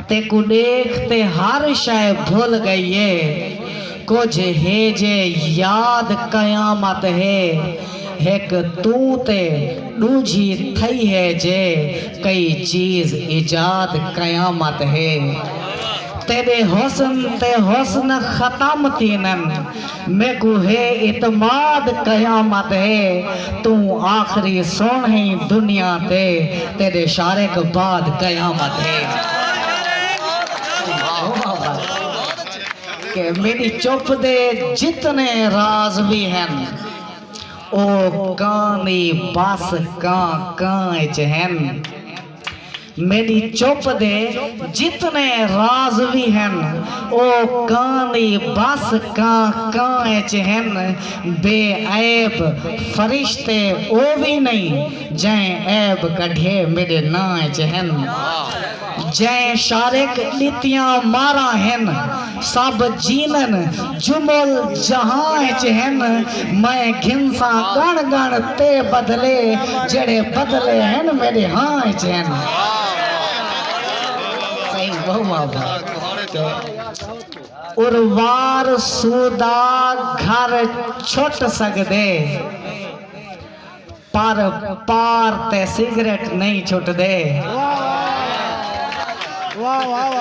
تیکوں ݙیکھ تے ہر شئے بھل ڳئی اے کجھ ہے جے یاد قیامت ہے ہک توں تے ݙوجھی تھئی ہے جے کئی چیز ایجاد قیامت ہے تیݙے حسن تے حسن ختم تھیندن میکوں ہے اعتماد قیامت ہے توں آخری سن ہیں دنیا تے تیڈے شارے کوں بعد قیامت ہے کہ میڈی چپ دے جتنے راز وی ہن او کان دی بس کاں کاں اچ ہن۔ میݙی چپ دے جتنے راز وی ہن او کاں دی بس کاں کاں اچ ہن بے عیب فرشتے او وی نئیں جئیں عیب کڈھے میݙے ناں اچ ہن جئیں شارق ݙتیاں ماراں ہن سب جینن جو مول جہاں اچ ہن میں گھنساں گݨ گݨ تے بدلے جیڑھے بدلے ہن میݙے ہاں اچ ہن اروار سودا گھر چھٹ سڳدے۔ پر پار تے سگریٹ نئیں چھٹ دے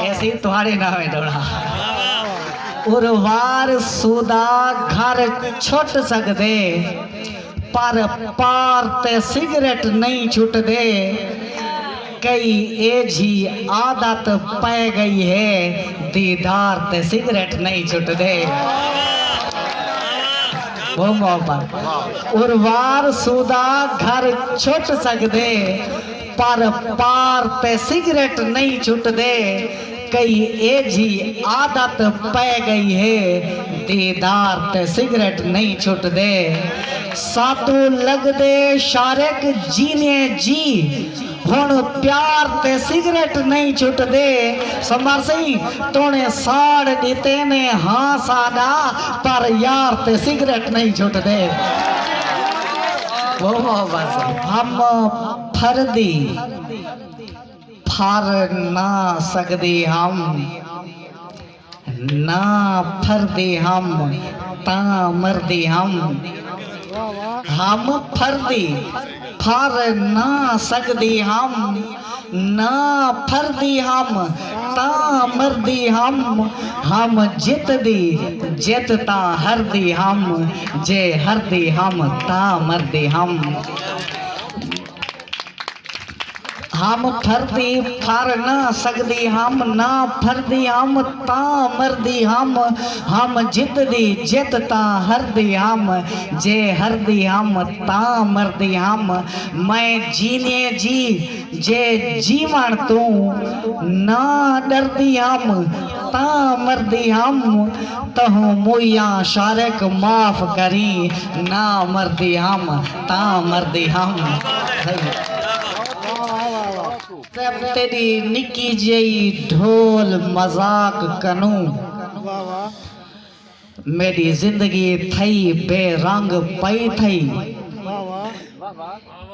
ایسی تہاڑی نہ ہوئے ڈوڑا اروار سودا گھر چھٹ سکدے پر پار تے سگریٹ نئیں چھٹ دے کئی ایجھی عادت پئے گئی ہے دیدار تے سگریٹ نئیں چھٹدے بہوں محبت اروار سودا گھر چھٹ سکدے پر پار تے سگریٹ نئیں چھٹدے کئی ایجھی عادت پئے گئی ہے دیدار تے سگریٹ نئیں چھٹدے ساتوں لگدے شارق جینیے جی ہن پیار تے سگریٹ نئیں چھٹدے سمر سئیں تونے ساڑ ڈتے نے ہاں ساڈا پر یار تے سگریٹ نئیں چھٹدے بہت بہت بس ہم پھردی۔ پھر نہ سگدے ہم نہ پھردے ہم تاں مردے ہم ہم پھردے پھر نہ سگدے ہم نہ پھردے ہم تاں مردے ہم ہم جت دے جت تاں ہردے ہم جے ہردے ہم تاں مردے ہم۔ ہم پھردی پھر نہ سڳدی ہم نہ پھردی ہم تاں مردی ہم ہم جتدی جت تاں ہردی ہم جے ہردی ہم تاں مردی ہم میں جینیے جی جے جیوݨ توں نہ ݙردی ہم تاں مردی ہم تہوں موئیاں شارق معاف کریں نہ مردی ہم تاں مردی ہم تیڈی نکی جئی ڈھول مذاق کنوں میڈی زندگی تھئی بے رنگ پئی تھئی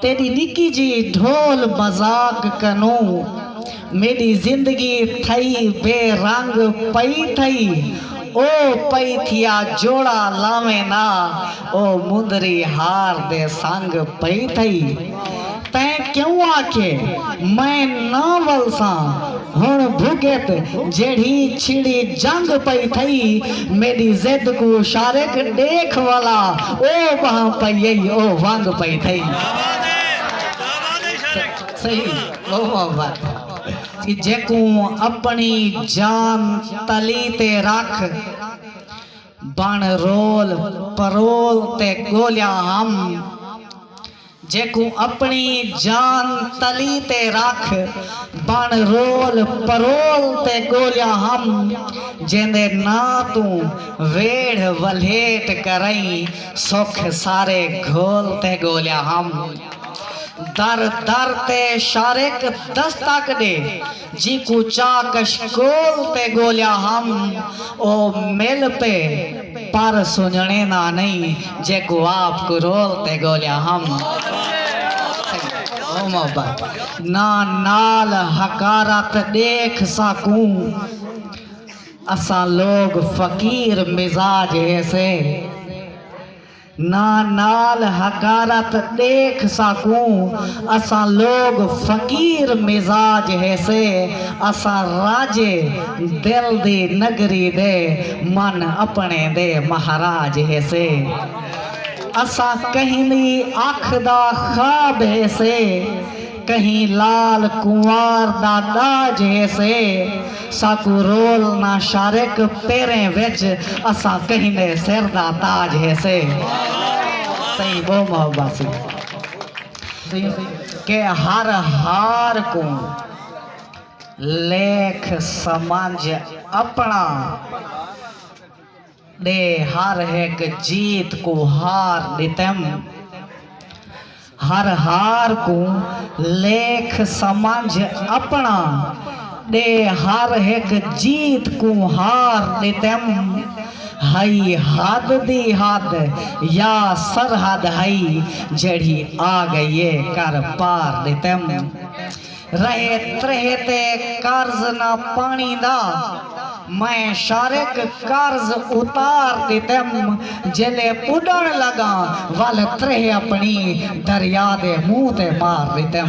تیڈی نکی جئی ڈھول مذاق کنوں میݙی زندگی تھئی بے رنگ پئی تھئی او پئی تھیا جوڑا لاویں نا او مندری ہار دے سنگ پئی تھئی تیں کیوں آکھے میں نہ ولساں ہݨ بھڳت جیڑھی چھڑی جنگ پئی تھئی میݙی ضد کوں شارق ݙیکھ ولا او ٻہہ پئی او ونگ پئی تھئی۔ جیکوں اپݨی جان تلی تے رکھ بݨ رول پرول تے ڳولیا ہم جیکوں اپݨی جان تلی تے رکھ بݨ رول پرول تے ڳولیا ہم جیندے ناں توں ویڑھ ولھیٹ کرئیں سکھ سارے گھول تے ڳولیا ہم۔ در در تے شارق دستک ݙے جینکوں چاہ کشکول تے ڳولیا ہم او مل پئے پر سنڄݨے نہ نئیں جیکوں آپ کرول تے ڳولیا ہم او محبت نہ نال حقارت ݙیکھ ساکوں اساں لوک فقیر مزاج ہیسے۔ نا نال حقارت ڈیکھ ساکوں اساں لوگ فقیر مزاج ہیسے اساں راجے دل دی نگری دے من اپنے دے مہاراج ہیسے اساں کہیں دی اکھ دا خواب ہیسے کہیں لال کنوار دا ݙاج ہیسے ساکوں رول نہ شارق پیریں وچ اساں کہیں دے سر دا تاج ہیسے سئیں بہوں محبت سی کہ ہر ہار کوں لیکھ سمجھ اپݨا ݙے ہر ہک جیت کوں ہار ݙتم ہر ہار کوں لیکھ سمجھ اپݨا ݙے ہر ہک جیت کوں ہار ݙتم ہئی حد دی حد یا سرحد ہئی جیڑھی آ ڳئی اے کر پار ݙتم رہے ترہے تے قرض نہ پاݨی دا میں شارق قرض اتار ݙتم جیلے ٻݙݨ لڳاں ول ترہے اپݨی دریا دے منہ تے مار ݙتم۔